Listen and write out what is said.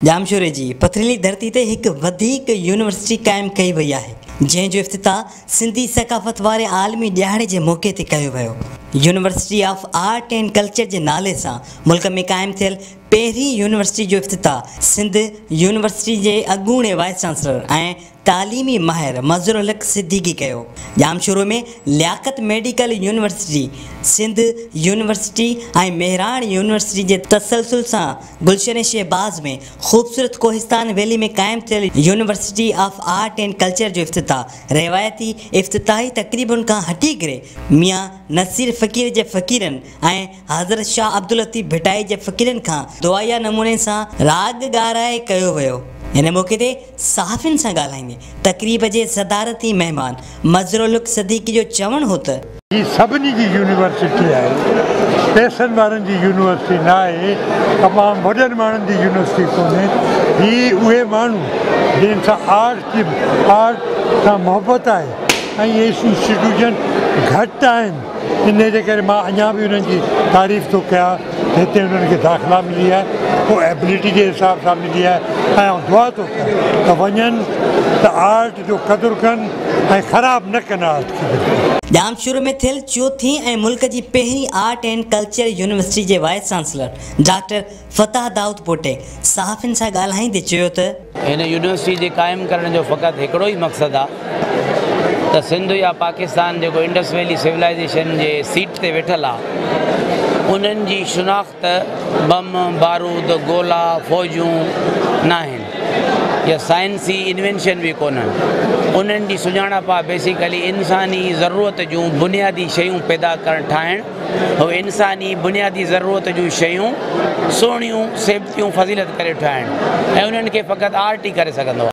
ڄامشوري جي پٿريلي ڌرتي تي هڪ وڌيڪ يونيورسٽي قائم ڪئي وئي آهي جنهن جو افتتاح سنڌي ثقافت واري عالمي ڏيهاڙي جي موقعي تي ڪيو ويو university of art and culture جي نالي سان ملڪ ۾ قائم ٿيل پهرين يونيورسٽي جو افتتاح سنڌ يونيورسٽي جي اڳوڻي وائيس چانسلر ۽ تعليمي ماهر مظهرالحق صديقي ڪيو. Jamshoro ۾ Liaquat medical university, Sindh university ۽ Mehran university جي تسلسل سان گلشن شهباز ۾ خوبصورت ڪوهستان ويلي ۾ قائم ٿيل university of art and culture جو افتتاح روايتي افتتاحي تقريبن کان هٽي ڪري ميان نصير فقير جي فقيرن ۽ حضرت شاهه عبداللطيف ڀٽائي جي فقيرن کان دعائيه نموني سان راڳ ڳارائي ڪيو ويو. ان موقعي تي صحافين سان ڳالهائيندي تقريب جي صدارتي مهمان مظهرالحق صديقي جو چوڻ هو ته. هي سڀني جي يونيورسٽي آهي، پئسن وارن جي يونيورسٽي نه آهي، تمام وڏن ماڻهن جي يونيورسٽي ڪونهي، هي اهي ماڻهو جن کي آرٽ جي آرٽ سان محبت آهي ۽ اهي انسٽيٽيوشن گهٽ آهن. انهيء جي ڪري مان اڃا به انهن جي تعريف ٿو ڪيان ته هتي انهن کي داخلا ملي آهي اهو ايبلٽي جي حساب سان ملي آهي ۽ آئون دعا ٿو ڪيان ته وڃن ته آرٽ جو قدر ڪن ۽ خراب نه ڪن آرٽ کي بلڪل. ڄامشورو ۾ ٿيل چوٿين ۽ ملڪ جي پهرين آرٽ اينڊ ڪلچر يونيورسٽي جي وائيس چانسلر ڊاڪٽر فتح دائودپوٽي صحافين سان ڳالهائيندي چيو ته. هن يونيورسٽي جي قائم ڪرڻ جو فقط هڪڙو ئي مقصد آ ته سنڌ يا پاڪستان جيڪو انڊس ويلي سولائيزيشن جي سيٽ تي ويٺل آ انهن جي شناخت بم، بارود، گولا، فوجون ناهن يا سائنسي انوينشن به ڪونهن انهن جي سڃاڻپ آ بيسيڪلي انساني ضرورت جون بنيادي شيون پيدا ڪرڻ ٺاهڻ. هو انساني بنيادي ضرورت جون شيون سهڻيون، سيبتيون، فضيلت ڪري ٺاهڻ ۽ انهن کي فقط آرٽ ئي ڪري سگهندو آهي.